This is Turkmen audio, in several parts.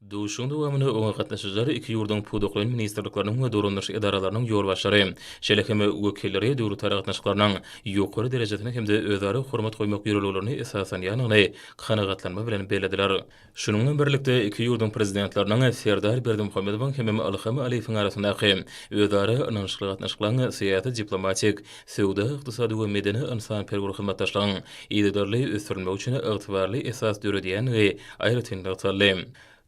Duşuşygyň dowamynda oňa gatnaşyjylar iki ýurduň pudaklaýyn ministrlikleriniň we dolandyryş edaralarynyň ýolbaşçylary, şeýle hem wekilleri döwlet aragatnaşyklarynyň ýokary derejesini hem-de özara hormat goýmak ýörelgelerini esaslanýandygyny kanagatlanma bilen bellediler. Şunuň bilen birlikde, iki ýurduň Prezidentleriniň Serdar Berdimuhamedowyň hemem Ylham Aliýewiň arasyndaky özara ynanyşykly gatnaşyklaryň syýasy-diplomatik söwda-ykdysady we medeni-ynsanperwer hyzmatdaşlygyň yzygiderli ösdürilmegi üçin ygtybarly esas döredýändigi aýratyn nygtaldy.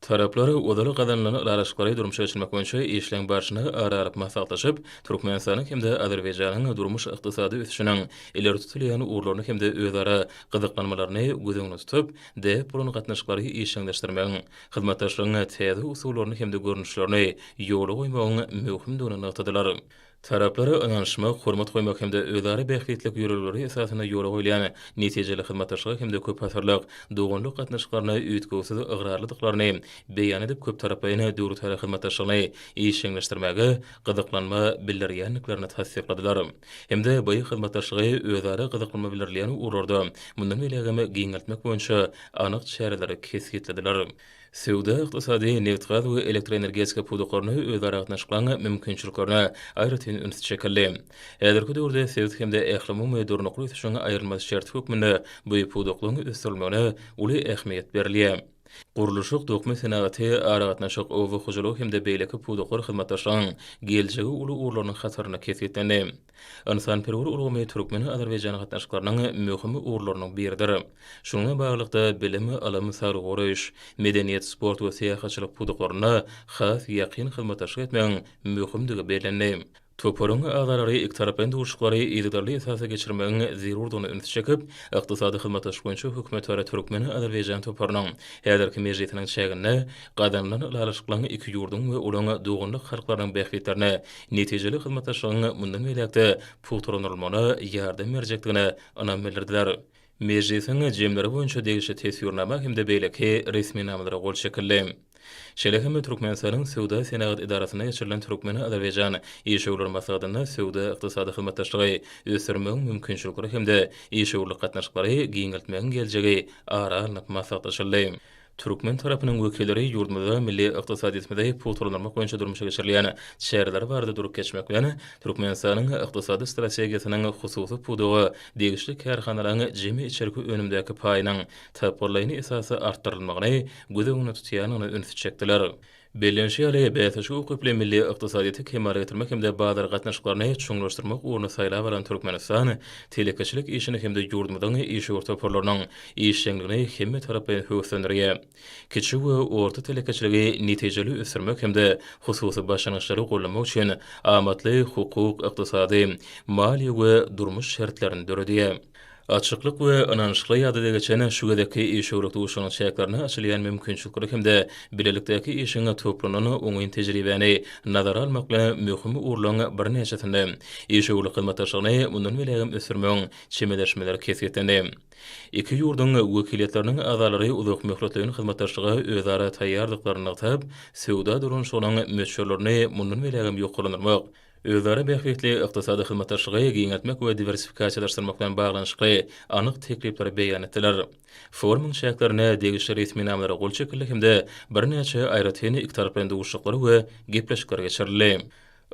Taraplar ozal gazanylan ylalaşyklary durmuşa geçirmek boýunça işleň barşyny ara alyp maslahatlaşyp, Türkmenistanyň hem-de Azerbaýjanyň durmuş-ykdysady ösüşiniň ileri tutulýan ugurlaryny hem-de özara gyzyklanmalaryny göz öňünde tutup, däp bolan gatnaşyklary işjeňleşdirmegiň, hyzmatdaşlygyň täze usullaryny hem-de görnüşlerini ýola goýmagyň möhümdigini nygtadylar. Taraplara ynanyşmak, hormat goýmak hem-de özara bähbitlilik ýörelgeleri esasynda ýola goýulýan netijeli hyzmatdaşlyga hem-de köpasyrlyk doganlyk gatnaşyklaryna üýtgewsiz ygrarlydyklaryny beýan edip, köptaraplaýyn döwletara hyzmatdaşlygyny işjeňleşdirmäge gyzyklanma bildirýändiklerini tassykladylar hem-de bu hyzmatdaşlygy özara gyzyklanma bildirilýän ugurlarda mundan beýlägem giňeltmek boýunça anyk çäreleri kesgitlediler. Söwda-ykdysady, nebitgaz we elektroenergetika pudaklarynda özara gatnaşyklaryň mümkinçiliklerine aýratyn üns çekildi. Häzirki döwürde sebit hem-de ählumumy durnukly ösüşiň aýrylmaz şerti hökmünde bu pudaklaryň ösdürilmegine uly ähmiýet berilýär. Gurluşyk, dokma senagaty, aragatnaşyk, oba hojalygy hem-de beýleki pudaklar hyzmatdaşlygyň geljegi uly ugurlarynyň hatarynda kesgitlendi. Ynsanperwer ulgamy türkmen-azerbaýjan gatnaşyklarynyň möhüm ugurlarynyň biridir. Şuňa baglylykda, bilim, ylym, saglygy goraýyş, medeniýet, sport we syýahatçylyk pudaklarynda has ýakyn hyzmatdaşlyk etmegiň möhümdigi bellendi. Toparyň agzalary ikitaraplaýyn duşuşyklary yzygiderli esasda geçirmegiň zerurdygyna ünsi çekip, Ykdysady hyzmatdaşlyk boýunça hökümetara türkmen-azerbaýjan toparynyň häzirki mejlisiniň çäginde gazanylan ylalaşyklaryň iki ýurduň we olaň doganlyk halklarynyň bähbitlerine netijeli hyzmatdaşlygyň mundan beýläk-de pugtalandyrylmagyna ýardam berjekdigine ynam bildirdiler. Mejlisiň jemleri boýunça degişli Teswirnama hem-de beýleki resminamalara gol çekildi. Şeýle hem Türkmenistanyň Söwda-senagat edarasynda geçirilen türkmen-azerbaýjan işewürler maslahatynda söwda-ykdysady hyzmatdaşlygy ösdürmegiň mümkinçilikleri hem-de işewürlik gatnaşyklary giňeltmegiň geljegi ara alnyp maslahatlaşyldy. Türkmen tarapynyň wekilleri ýurdumyzda milli ykdysadyýetimizi pugtalandyrmak boýunça durmuşa geçirilýän çäreler barada durup geçmek bilen, Türkmenistanyň ykdysady strategiýasynyň hususy pudaga degişli kärhanalaryň jemi içerki önümdäki paýynyň tapgyrlaýyn esasda artdyrylmagyny göz öňünde tutýandygyna ünsi çekdiler. Bellenişi ýaly, bäsleşige ukyply milli ykdysadyýeti kemala getirmek hem-de bazar gatnaşyklaryny çuňlaşdyrmak ugruny saýlap alan Türkmenistan telekeçilik işini hem-de ýurdumyzyň işewür toparlarynyň işjeňligini hemmetaraplaýyn höweslendirýär. Kiçi we orta telekeçiligi netijeli ösdürmek hem-de hususy başlangyçlary goldamak üçin amatly hukuk, ykdysady, maliýe we durmuş şertlerini döredýär. Açyklyk we ynanyşykly ýadada geçen şu gezekki işewürlik duşuşygynyň çäklerinde açylýan mümkinçilikleri hem-de bilelikdäki işiň toplanan oňyn tejribäni nazara almak bilen möhüm ugurlaryň birnäçesinde işewürlik hyzmatdaşlygyny mundan belägem ösdürmegiň çemeleşmeleri kesgitlendi. Iki ýurduň wekiliýetleriniň agzalary uzakmöhletleýin hyzmatdaşlyga özara taýýardyklaryny nygtap, söwda dolanyşygynyň möçberlerini mundan belägem ýokarlandyrmak, özara bähbitli ykdysady hyzmatdaşlygy giňeltmek we diwersifikasiýalaşdyrmak bilen baglanyşykly anyk teklipleri beýan etdiler. Forumyň çäklerinde degişli resminamalara gol çekildi hem-de birnäçe aýratyn ikitaraplaýyn duşuşyklar we gepleşikler geçirildi.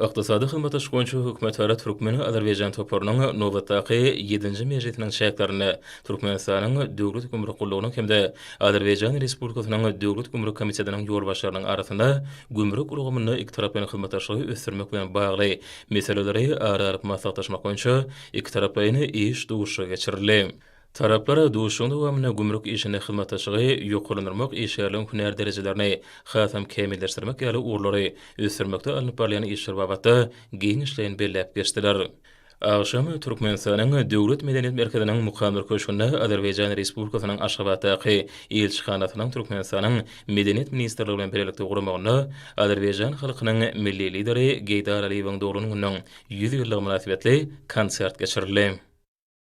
Ykdysady hyzmatdaşlyk boýunça hökümetara türkmen-azerbaýjan toparynyň nobatdaky ýedinji mejlisiniň çäklerinde Türkmenistanyň Döwlet gümrük gullugynyň hem-de Azerbaýjan Respublikasynyň Döwlet gümrük komitetiniň ýolbaşçylarynyň arasynda gümrük ulgamynda ikitaraplaýyn hyzmatdaşlygy ösdürmek bilen bagly meseleleri ara alyp maslahatlaşmak boýunça ikitaraplaýyn iş duşuşygy geçirildi. Taraplar duşuşygyň dowamynda gümrük işinde hyzmatdaşlygy ýokarlandyrmak, işgärleriň hünär derejelerini hasam kämilleşdirmek ýaly ugurlary ösdürmekde alnyp barylýan işler babatda giňişleýin belläp geçdiler. Agşam Türkmenistanyň Döwlet medeniýet merkeziniň Mukadder köşgünde Azerbaýjan Respublikasynyň Aşgabatdaky Ilçihanasynyň Türkmenistanyň Medeniýet ministrligi bilen bilelikde guramagynda Azerbaýjan halkynyň Milli Lideri Geýdar Aliýewiň doglan gününiň ýüz ýyllygy mynasybetli konsert geçirildi.